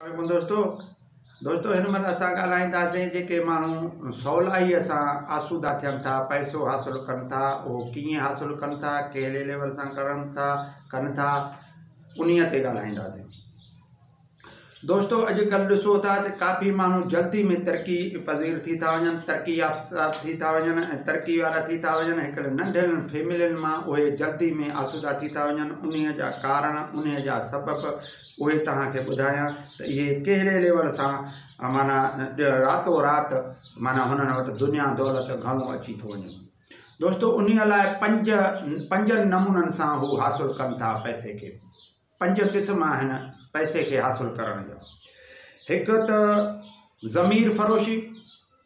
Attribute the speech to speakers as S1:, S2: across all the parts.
S1: عليڪم دوستو دوستو هن مهل اسان ڳالهائينداسين جيڪي ماڻهو سولائي سان آسودا ٿين ٿا پئسو حاصل ڪن ٿا اهو ڪيئن حاصل ڪن ٿا ڪهڙي ليول سان ڪرن ٿا ڪن ٿا انهي تي ڳالهائينداسين دوستو اڄڪلهه ڏسو ٿا ته ڪافي ماڻهو جلدي ۾ ترقي پذير ٿي ٿا وڃن ترقي يافتا ٿي ٿا وڃن ۽ ترقي وارا ٿي ٿا وڃن هڪڙن ننڍن فيملين مان اهي جلدي ۾ آسودا ٿي ٿا وڃن انهي جا ڪارڻ انهي جا سبب اهي توهان کي ٻڌايان ته اهي ڪهڙي ليول سان معنيٰ راتو رات معنيٰ هنن وٽ دنيا دولت گهڻو اچي ٿو وڃي دوستو انهي لاء پنج پنجن نمونن سان هو حاصل ڪن ٿا پئسي کي پنج قسم آهن پئسي کي حاصل ڪرڻ جا هڪ ته ضمير فروشي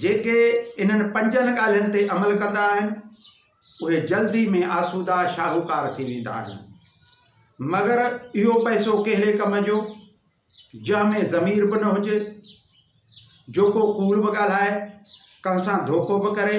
S1: جيڪي انهن پنجن ڳالهين تي عمل ڪندا آهن، اهي جلدي ۾ آسودا شاهوڪار ٿي ويندا آهن. مگر اهو پئسو ڪهڙي ڪم جو، جنهن ۾ ضمير به نه هجي، جوڪو ڪوڙ به ڳالهائي، ڪنهن سان ڌوڪو به ڪري.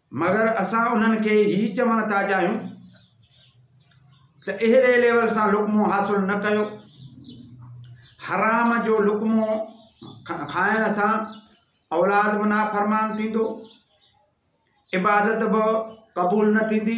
S1: مگر اسان انهن کي هي چوڻ ٿا چاهيون ته اهڙي ليول سان لقمو حاصل نه ڪيو حرام جو لقمو کائڻ سان اولاد به نافرمان ٿيندو عبادت به قبول نه ٿيندي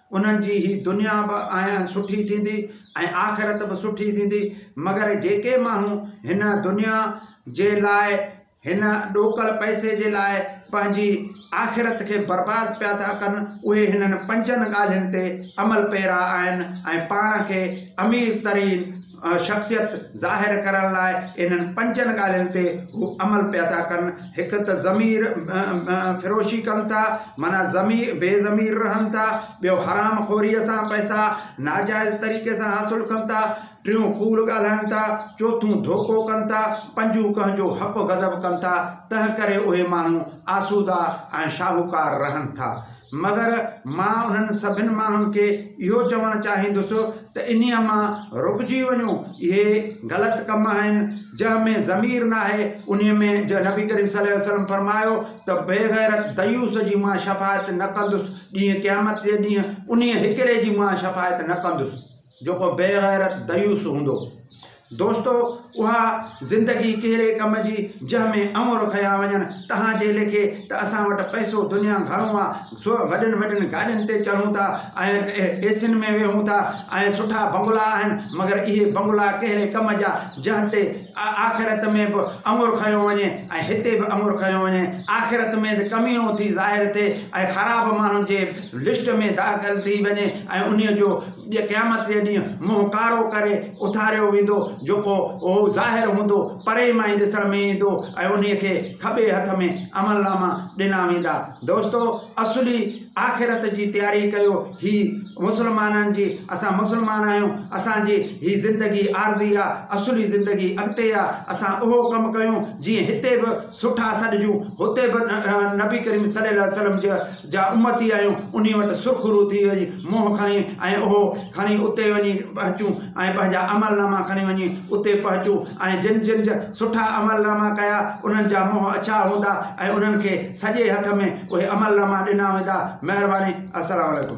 S1: انهن جي هي دنيا به آئين سٺي ٿيندي ۽ آخرت به سٺي ٿيندي مگر جيڪي ماڻهو هن دنيا جي لاء هن ڏوڪل پئسي جي لاء پنهنجي آخرت کي برباد پيا ٿا ڪن اهي هنن پنجن ڳالهين تي عمل پيرا آهن ۽ پاڻ کي امير ترين شخصيت ظاهر ڪرڻ لاء انهن پنجن ڳالهين تي هو عمل پيا ٿا ڪن، هڪ ته ضمير فروشي ڪن ٿا، معنيٰ ضمير بي ضمير رهن ٿا، ٻيو حرام خوريء سان پئسا ناجائز طريقي سان حاصل ڪن ٿا، ٽيون ڪوڙ ڳالهائن ٿا، چوٿون ڌوڪو ڪن ٿا، پنجون ڪنهن جو حق غضب ڪن ٿا، تنهن ڪري اهي ماڻهو آسودا ۽ شاهوڪار رهن ٿا. مگر مان انهن سڀن ماڻهن کي اهو چوڻ چاهيندس ته انهيء مان رڪجي وڃو، اهي غلط ڪم آهن، جنهن ۾ ضمير ناهي، انهيء ۾ جو نبي ڪريم صلي الله عليه وسلم فرمايو ته بيغيرت ديوث جي مان شفاعت نه ڪندس ڏينهن قيامت جي ڏينهن انهيء هڪڙي جي مان شفاعت نه ڪندس جيڪو بيغيرت ديوث هوندو. دوستو اها زندگي ڪهڙي ڪم جي جنهن ۾ امور کنيا وڃن تهان جي ليکي ته اسان وٽ پئسو دنيا گهڻو آ سو وڏين وڏين گاڏين تي چڙهون ٿا ۽ اي سين ۾ ويهون ٿا ۽ سٺا بنگلا آهن مگر اهي بنگلا ڪهڙي ڪم جا جنهن تي آخرت ۾ به امور کنيو وڃي ۽ هتي به امور کنيو وڃي آخرت ۾ ته ڪميڻو ٿي ظاهر ٿئي ۽ خراب ماڻهن جي لسٽ ۾ داخل ٿي وڃي ۽ انهي جو ڏينهن قيامت جي ڏينهن منهن ڪارو ڪري اٿاريو ويندو جيڪو اهو ظاهر هوندو پري مان ئي ڏسڻ ۾ ايندو ۽ انهي کي کٻي هٿ ۾ عمل ناما ڏنا ويندا دوستو اصلي آخرت جي تياري ڪيو هي مسلمانن جي اسان مسلمان آهيون اسان جي هي زندگي عارضي آ اصلي زندگي اڳتي آ اسان اهو ڪم ڪيون جيئن هتي به سٺا سڏجون هتي به نبي ڪريم صلي الله عليه وسلم جي جا امتي آهيون، انهيء وٽ سرخرو ٿي وڃ، منهن کڻي ۽ اهو کڻي اتي وڃي پهچون ۽ پنهنجا عمل ناما کڻي وڃي اتي پهچون ۽ جن جن سٺا عمل ناما ڪيا انهن جا منهن اڇا هوندا ۽ انهن کي سڄي هٿ ۾ اهي عمل ناما ڏنا ويندا مهرباني السلام عليڪم.